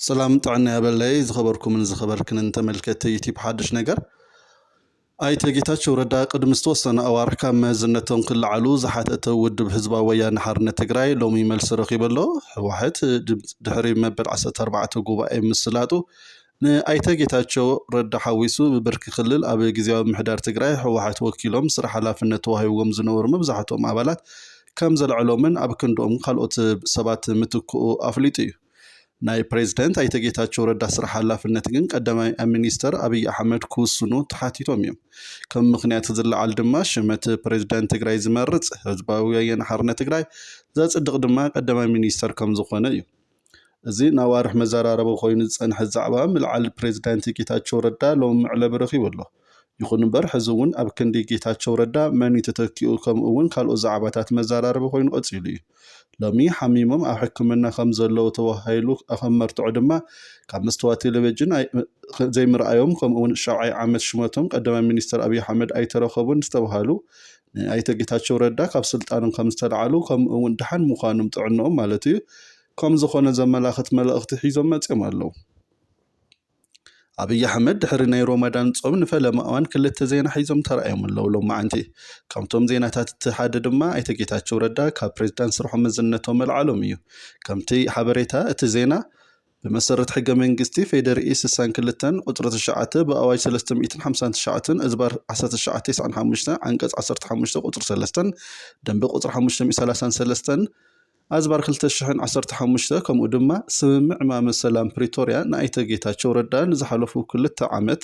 ሰላም ጥዕና ያበለይ ዝኸበርኩምን ዝኸበርክንን ተመልከቲ ዩቲብ ሓድሽ ነገር ኣይተ ጌታቸው ረዳ ቅድሚ ዝተወሰነ ኣዋርሕ ካብ መዝነቶም ክለዓሉ ዝሓተተ ውድብ ህዝባዊ ወያነ ሓርነት ትግራይ ሎሚ መልሲ ረኺበሎ ህወሓት ድሕሪ መበል 14 ጉባኤ ምስላጡ ንኣይተ ጌታቸው ረዳ ሓዊሱ ብብርኪ ክልል ኣብ ግዝያዊ ምምሕዳር ትግራይ ህወሓት ወኪሎም ስራሕ ሓላፍነት ተዋሂብዎም ዝነበሩ መብዛሕትኦም ኣባላት ከምዘልዐሎምን ኣብ ክንድኦም ካልኦት ሰባት ምትክኡ ኣፍሊጡ እዩ። ናይ ፕሬዝደንት ኣይተ ጌታቸው ረዳ ስራሕ ሓላፍነት ግን ቀዳማይ ሚኒስተር ኣብይ ኣሕመድ ክውስኑ ተሓቲቶም እዮም። ከም ምኽንያት ዝለዓል ድማ ሽመት ፕሬዝዳንት ትግራይ ዝመርፅ ህዝባዊ ወያነ ሓርነት ትግራይ ዘፅድቕ ድማ ቀዳማይ ሚኒስተር ከም ዝኾነ እዩ። እዚ ንኣዋርሕ መዘራረቢ ኮይኑ ዝፀንሐ ዛዕባ ምልዓል ፕሬዚዳንት ጌታቸው ረዳ ሎሚ መዕለቢ ረኺቡ ኣሎ። ይኹን እምበር ሕዚ እውን ኣብ ክንዲ ጌታቸው ረዳ መን እዩ ተተኪኡ ከምኡ እውን ካልኦት ዛዕባታት መዘራረቢ ኮይኑ ቀፂሉ እዩ። ሎሚ ሓሚሞም ኣብ ሕክምና ከም ዘለዉ ተወሃሂሉ ከም መርትዖ ድማ ካብ መስተዋት ቴሌቪዥን ዘይምርኣዮም ከምኡ እውን ሻብዓይ ዓመት ሽመቶም ቀዳማይ ሚኒስትር ኣብዪ ኣሕመድ ኣይተረከቡን ዝተብሃሉ ኣይተ ጌታቸው ረዳ ካብ ስልጣኖም ከም ዝተልዓሉ ከምኡ እውን ድሓን ምዃኖም ጥዕንኦም ማለት እዩ ከም ዝኾነ ዘመላኽት መልእኽቲ ሒዞም መፅዮም ኣለው። ኣብይ ኣሕመድ ድሕሪ ናይ ሮማዳን ፆም ንፈለማ እዋን ክልተ ዜና ሒዞም ተራእዮም ኣለው ሎማዓንቲ። ካብቶም ዜናታት እቲ ሓደ ድማ ኣይተ ጌታቸው ረዳ ካብ ፕሬዝዳንት ስርሖም መዝነቶም መልዓሎም እዩ። ከምቲ ሓበሬታ እቲ ዜና ብመሰረት ሕገ መንግስቲ ፌዴሪኢ ስሳን ክልተን ቁፅሪ ትሽዓተ ብኣዋጅ ሰለስተ ሚእትን ሓምሳን ትሽዓተን እዝባር ዓሰርተ ትሽዓተ ተስዓን ሓሙሽተን ዓንቀፅ ዓሰርተ ሓሙሽተ ቁፅሪ ሰለስተን ደንበ ቁፅሪ ሓሙሽተ ሚእትን ሰላሳን ሰለስተን ኣዝባር ክልተ ሽሕን ዓሰርተ ሓሙሽተ ከምኡ ድማ ስምምዕ ማመ ሰላም ፕሪቶርያ ንኣይተ ጌታቸው ረዳ ንዝሓለፉ ክልተ ዓመት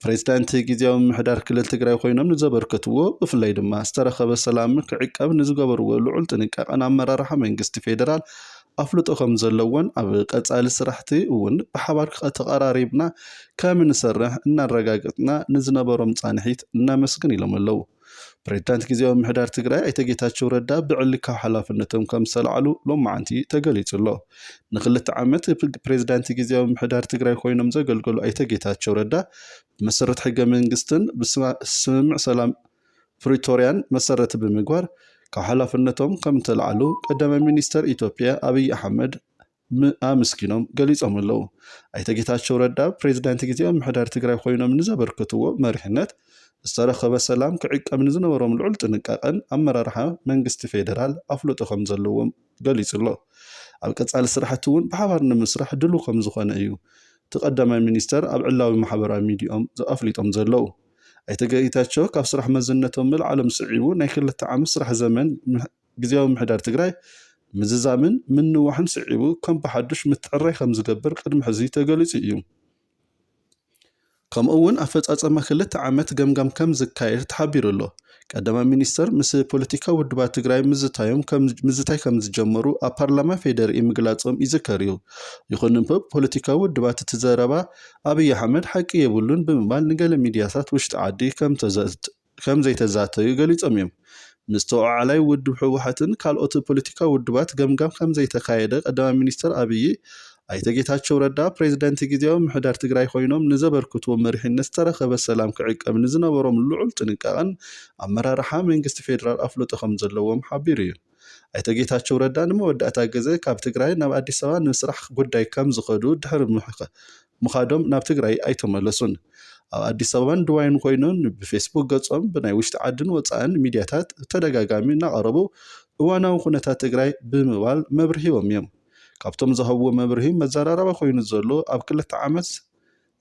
ፕሬዚዳንት ጊዚያዊ ምምሕዳር ክልል ትግራይ ኾይኖም ንዘበርከትዎ ብፍላይ ድማ ዝተረኸበ ሰላም ክዕቀብ ንዝገበርዎ ልዑል ጥንቃቐ ንኣመራርሓ መንግስቲ ፌዴራል ኣፍልጦ ከምዘለዎን ኣብ ቀፃሊ ስራሕቲ እውን ብሓባር ተቐራሪብና ከምንሰርሕ እናረጋገፅና ንዝነበሮም ፃንሒት ነመስግን ኢሎም ኣለው። ፕሬዚዳንት ግዝያዊ ምምሕዳር ትግራይ ኣይተ ጌታቸው ረዳ ብዕሊ ካብ ሓላፍነቶም ከም ዝተላዕሉ ሎማዓንቲ ተገሊፁ ኣሎ። ንክልተ ዓመት ፕሬዚዳንት ግዝያዊ ምምሕዳር ትግራይ ኮይኖም ዘገልገሉ ኣይተ ጌታቸው ረዳ ብመሰረት ሕገ መንግስትን ብስምምዕ ሰላም ፕሪቶሪያን መሰረት ብምግባር ካብ ሓላፍነቶም ከም ዝተላዕሉ ቀዳማይ ሚኒስተር ኢትዮጵያ ኣብይ ኣሕመድ ምኣምስኪኖም ገሊፆም ኣለው። ኣይተ ጌታቸው ረዳ ፕሬዚዳንት ጊዜያዊ ምምሕዳር ትግራይ ኾይኖም ንዘበርከትዎ መሪሕነት ዝተረኸበ ሰላም ክዕቀብ ንዝነበሮም ልዑል ጥንቃቐን ኣመራርሓ መንግስቲ ፌዴራል ኣፍልጦ ከምዘለዎም ገሊፁ'ሎ። ኣብ ቀፃሊ ስራሕቲ እውን ብሓባር ንምስራሕ ድሉው ከምዝኾነ እዩ እቲ ቀዳማይ ሚኒስትር ኣብ ዕላዊ ማሕበራዊ ሚዲየኦም ኣፍሊጦም ዘለው። ኣይተ ጌታቸው ካብ ስራሕ መዝነቶም ምልዓሎም ስዒቡ ናይ ክልተ ዓመት ስራሕ ዘመን ግዝያዊ ምምሕዳር ትግራይ ምዝዛምን ምንዋሕን ስዒቡ ከም ብሓዱሽ ምትዕርራይ ከምዝገብር ቅድሚ ሕዚ ተገሊፁ እዩ። ከምኡ እውን ኣፈፃፀማ ክልተ ዓመት ገምጋም ከምዝካየድ ተሓቢሩ ኣሎ። ቀዳማይ ሚኒስትር ምስ ፖለቲካዊ ውድባት ትግራይ ምዝታዮም ምዝታይ ከምዝጀመሩ ኣብ ፓርላማ ፌዴሪኢ ምግላፆም ይዝከር እዩ። ይኹን እምበር ፖለቲካዊ ውድባት እቲ ዘረባ ኣብይ ኣሕመድ ሓቂ የብሉን ብምባል ንገለ ሚዲያታት ውሽጢ ዓዲ ከምተዘት ከም ዘይተዛተዩ ገሊጾም እዮም። ምስ ተወዓዓላይ ውድብ ህወሓትን ካልኦት ፖለቲካዊ ውድባት ገምጋም ከም ዘይተኻየደ ቀዳማይ ሚኒስተር ኣብዪ፣ ኣይተ ጌታቸው ረዳ ፕሬዚደንት ጊዜያዊ ምሕዳር ትግራይ ኮይኖም ንዘበርክቱዎ መሪሕነት ዝተረኸበ ሰላም ክዕቀብ ንዝነበሮም ልዑል ጥንቃቐን ኣመራርሓ መንግስቲ ፌዴራል ኣፍልጦ ከም ዘለዎም ሓቢሩ እዩ። ኣይተ ጌታቸው ረዳ ንመወዳእታ ግዘ ካብ ትግራይ ናብ ኣዲስ ኣበባ ንስራሕ ጉዳይ ከም ዝኸዱ ድሕሪ ምኻዶም ናብ ትግራይ ኣይተመለሱን። ኣብ ኣዲስ ኣበባን ድባይን ኮይኖም ብፌስቡክ ገፆም ብናይ ውሽጢ ዓድን ወፃእን ሚድያታት ብተደጋጋሚ እናቐረቡ እዋናዊ ኩነታት ትግራይ ብምባል መብርሂዎም እዮም። ካብቶም ዝሃብዎ መብርሂ መዘራረባ ኮይኑ ዘሎ ኣብ ክልተ ዓመት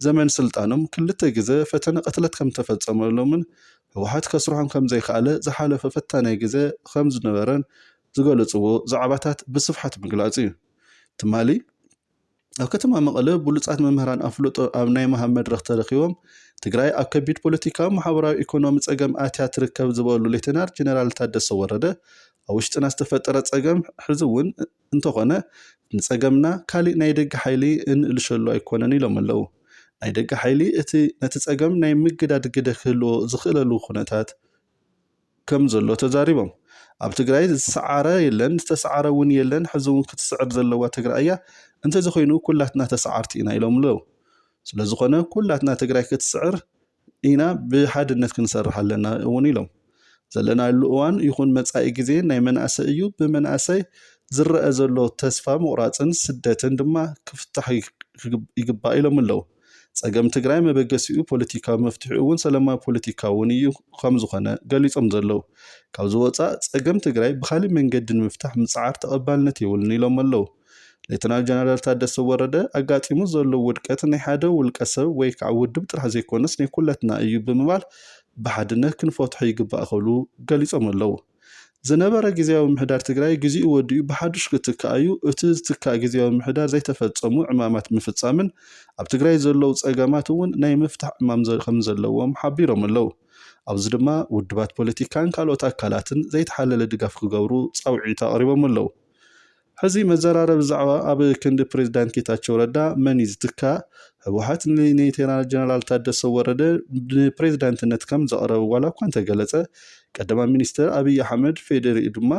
ዘመን ስልጣኖም ክልተ ግዘ ፈተነ ቅትለት ከምተፈፀመሎምን ህወሓት ከስርሖም ከምዘይከኣለ ዝሓለፈ ፈታናይ ግዘ ከምዝነበረን ዝገለፅዎ ዛዕባታት ብስፍሓት ምግላፅ እዩ። ትማሊ ኣብ ከተማ መቐለ ብሉፃት መምህራን ኣፍልጦ ኣብ ናይ ምሃብ መድረኽ ተረኺቦም ትግራይ ኣብ ከቢድ ፖለቲካዊ፣ ማሕበራዊ፣ ኢኮኖሚ ፀገም ኣትያ ትርከብ ዝበሉ ሌተናር ጀነራል ታደሰ ወረደ ኣብ ውሽጥና ዝተፈጠረ ፀገም ሕዚ እውን እንተኾነ ንጸገምና ካሊእ ናይ ደገ ሓይሊ እንእልሸሉ ኣይኮነን ኢሎም ኣለው። ናይ ደገ ሓይሊ እቲ ነቲ ጸገም ናይ ምግዳድ ግደ ክህልዎ ዝኽእለሉ ኩነታት ከም ዘሎ ተዛሪቦም። ኣብ ትግራይ ዝሰዓረ የለን ዝተሰዓረ እውን የለን ሕዚ እውን ክትስዕር ዘለዋ ትግራይ እያ እንተዘኾይኑ ኩላትና ተሰዓርቲ ኢና ኢሎም ኣለው። ስለዝኾነ ኩላትና ትግራይ ክትስዕር ኢና ብሓድነት ክንሰርሕ ኣለና እውን ኢሎም። ዘለናሉ እዋን ይኹን መጻኢ ግዜ ናይ መናእሰይ እዩ፣ ብመናእሰይ ዝረኣ ዘሎ ተስፋ ምቑራፅን ስደትን ድማ ክፍታሕ ይግባእ ኢሎም ኣለው። ፀገም ትግራይ መበገሲኡ ፖለቲካዊ መፍትሒኡ እውን ሰላማዊ ፖለቲካ እውን እዩ ከምዝኾነ ገሊፆም ዘለው። ካብዚ ወፃእ ፀገም ትግራይ ብኻሊእ መንገዲ ንምፍታሕ ምፅዓር ተቐባልነት የብሉን ኢሎም ኣለው። ሌተናል ጀነራል ታደሰ ወረደ ኣጋጢሙ ዘሎ ውድቀት ናይ ሓደ ውልቀ ሰብ ወይ ከዓ ውድብ ጥራሕ ዘይኮነስ ናይ ኩለትና እዩ ብምባል ብሓድነት ክንፈትሖ ይግባእ ክብሉ ገሊፆም ኣለው። ዝነበረ ግዝያዊ ምምሕዳር ትግራይ ግዜኡ ወዲኡ ብሓዱሽ ክትካእ እዩ፣ እቲ ዝትካእ ግዝያዊ ምምሕዳር ዘይተፈፀሙ ዕማማት ምፍፃምን ኣብ ትግራይ ዘለው ፀገማት እውን ናይ ምፍታሕ ዕማም ከምዘለዎም ሓቢሮም ኣለው። ኣብዚ ድማ ውድባት ፖለቲካን ካልኦት ኣካላትን ዘይተሓለለ ድጋፍ ክገብሩ ፃውዒት ኣቕሪቦም ኣለው። ሕዚ መዘራረቢ ዛዕባ ኣብ ክንዲ ፕሬዝዳንት ጌታቸው ረዳ መን እዩ ዝትካእ? ህወሓት ንሌተናል ጀነራል ታደሰ ወረደ ንፕሬዝዳንትነት ከም ዘቕረበ ዋላ እኳ እንተገለፀ ቀዳማይ ሚኒስትር ኣብይ ኣሕመድ ፌዴሪኢ ድማ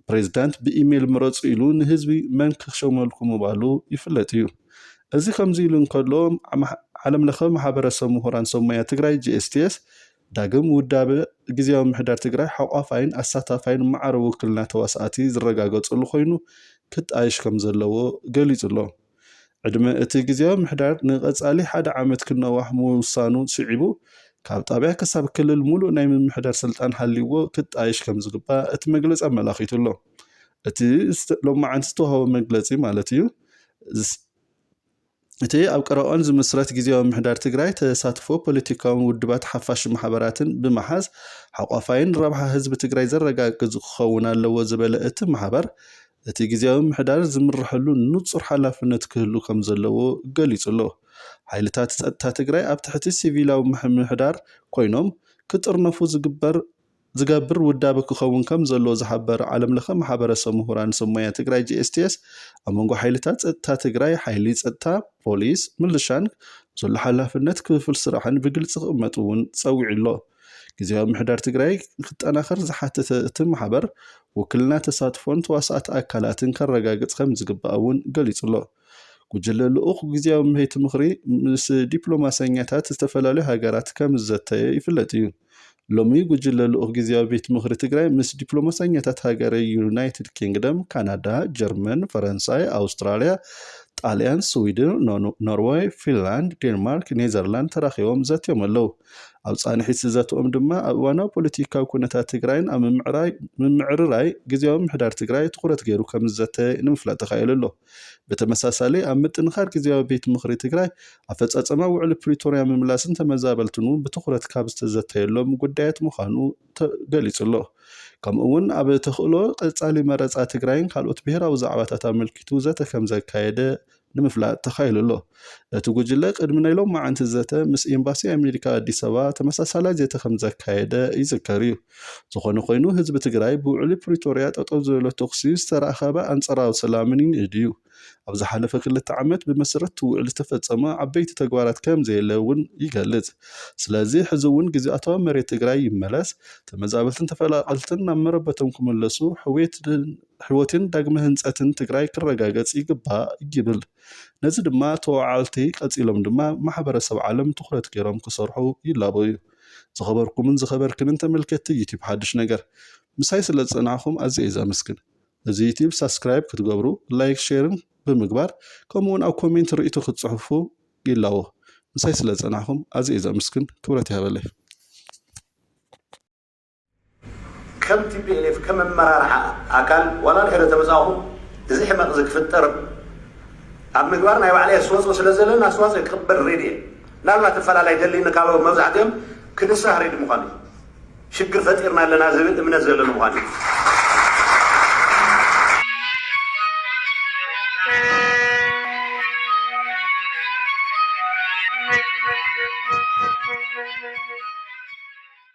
ፕሬዝዳንት ብኢሜል ምረፁ ኢሉ ንህዝቢ መን ክሾመልኩም ምባሉ ይፍለጥ እዩ። እዚ ከምዚ ኢሉ እንከሎ ዓለምለኸ ማሕበረሰብ ምሁራን ሰብ ሞያ ትግራይ፣ GSTS፣ ዳግም ውዳበ ግዝያዊ ምምሕዳር ትግራይ ሓቋፋይን ኣሳታፋይን ማዕረ ውክልና ተዋሳእቲ ዝረጋገፀሉ ኮይኑ ክጣየሽ ከምዘለዎ ገሊፁ'ሎ። ዕድመ እቲ ግዝያዊ ምምሕዳር ንቐፃሊ ሓደ ዓመት ክነዋሕ ምውሳኑ ስዒቡ ካብ ጣብያ ክሳብ ክልል ሙሉእ ናይ ምምሕዳር ስልጣን ሃልይዎ ክጣየሽ ከምዝግባእ እቲ መግለፂ ኣመላኺቱ'ሎ። እቲ ሎማዓንቲ ዝተውሃበ መግለፂ ማለት እዩ እቲ ኣብ ቀረባኦን ዝምስረት ግዜያዊ ምሕዳር ትግራይ ተሳትፎ ፖለቲካውን ውድባት ሓፋሽ ማሕበራትን ብምሓዝ ሓቋፋይን ረብሓ ህዝቢ ትግራይ ዘረጋግዝ ክኸውን ኣለዎ ዝበለ እቲ ማሕበር እቲ ግዜያዊ ምሕዳር ዝምረሐሉ ንፁር ሓላፍነት ክህሉ ከም ዘለዎ ገሊፁ ኣሎ። ሓይልታት ፀጥታ ትግራይ ኣብ ትሕቲ ሲቪላዊ ምሕዳር ኮይኖም ክጥርነፉ ዝግበር ዝገብር ውዳበ ክኸውን ከም ዘለዎ ዝሓበረ ዓለም ለኸ ማሕበረሰብ ምሁራን ሰብ ሞያ ትግራይ GSTS ኣብ መንጎ ሓይልታት ፀጥታ ትግራይ፣ ሓይሊ ፀጥታ፣ ፖሊስ፣ ምልሻን ዘሎ ሓላፍነት ክፍፍል ስራሕን ብግልፂ ክቕመጥ እውን ፀዊዑ ኣሎ። ግዝያዊ ምሕዳር ትግራይ ክጠናኸር ዝሓተተ እቲ ማሕበር ውክልና ተሳትፎን ተዋሳእቲ ኣካላትን ከረጋግፅ ከም ዝግባእ እውን ገሊፁ ኣሎ። ጉጅለ ልኡኽ ግዝያዊ ቤት ምኽሪ ምስ ዲፕሎማሰኛታት ዝተፈላለዩ ሃገራት ከም ዝዘተየ ይፍለጥ እዩ። ሎሚ ጉጅለ ልኡኽ ግዝያዊ ቤት ምኽሪ ትግራይ ምስ ዲፕሎማሰኛታት ሃገረ ዩናይትድ ኪንግደም፣ ካናዳ፣ ጀርመን፣ ፈረንሳይ፣ ኣውስትራልያ፣ ጣልያን፣ ስዊድን፣ ኖርወይ፣ ፊንላንድ፣ ዴንማርክ፣ ኔዘርላንድ ተራኺቦም ዘትዮም ኣለው። ኣብ ፃንሒት ዘትኦም ድማ ኣብ እዋናዊ ፖለቲካዊ ኩነታት ትግራይን ኣብ ምምዕርራይ ግዝያዊ ምሕዳር ትግራይ ትኹረት ገይሩ ከም ዝዘተየ ንምፍላጥ ተኻኢሉ ኣሎ። ብተመሳሳሊ ኣብ ምጥንኻር ግዝያዊ ቤት ምኽሪ ትግራይ ኣፈፃፀማ ውዕሊ ፕሪቶርያ ምምላስን ተመዛበልትን እውን ብትኹረት ካብ ዝተዘተየሎም ጉዳያት ምዃኑ ገሊፁ ኣሎ። ከምኡ እውን ኣብ ተኽእሎ ቀፃሊ መረፃ ትግራይን ካልኦት ብሄራዊ ዛዕባታት ኣመልኪቱ ዘተ ከምዘካየደ ንምፍላጥ ተኻኢሉ ኣሎ። እቲ ጉጅለ ቅድሚ ናይ ሎማዕንቲ ዘተ ምስ ኤምባሲ ኣሜሪካ ኣዲስ ኣበባ ተመሳሳላይ ዘተ ከምዘካየደ ይዝከር እዩ። ዝኾነ ኮይኑ ህዝቢ ትግራይ ብውዕሊ ፕሪቶርያ ጠጠው ዝበለ ተኹሲ ዝተረኸበ ኣንፀራዊ ሰላምን ይንእድ እዩ። ኣብ ዝሓለፈ ክልተ ዓመት ብመሰረት እቲ ውዕሊ ዝተፈፀመ ዓበይቲ ተግባራት ከምዘየለ እውን ይገልፅ። ስለዚ ሕዚ እውን ግዝኣታዊ መሬት ትግራይ ይመለስ፣ ተመዛበልትን ተፈላቐልትን ናብ መረበቶም ክምለሱ ሕውየትን ሕውየትን ዳግመ ህንፀትን ትግራይ ክረጋገፅ ይግባእ ይብል። ነዚ ድማ ተወዓዓልቲ ቀፂሎም ድማ ማሕበረሰብ ዓለም ትኹረት ገይሮም ክሰርሑ ይላበዉ። ዝኸበርኩምን ዝኸበርክንን ተመልከትቲ ዩቲብ ሓዱሽ ነገር ምሳይ ስለ ዝፀናሕኹም ኣዝየ እየ ዘመስግን። እዚ ዩቲብ ሳብስክራይብ ክትገብሩ ላይክ ሼርን ብምግባር ከምኡ እውን ኣብ ኮሜንት ርኢቶ ክትፅሕፉ ይላቦ። ምሳይ ስለ ዝፀናሕኹም ኣዝየ እየ ዘመስግን ክብረት ይሃበለይ። ከም tplf ከም ኣመራርሓ ኣካል ዋላ ድሕሪ ተመጻኹ እዚ ሕመቕ እዚ ክፍጠር ኣብ ምግባር ናይ ባዕለይ ኣስተዋጽኦ ስለ ዘለኒ ኣስተዋጽኦ ክቕበል ሬዲ እየ ምናልባት እፈላላይ ደልይኒ ካብ መብዛሕትኦም ክንሳህ ሬዲ ምዃኑ እዩ ሽግር ፈጢርና ኣለና ዝብል እምነት ዘለኒ ምዃኑ እዩ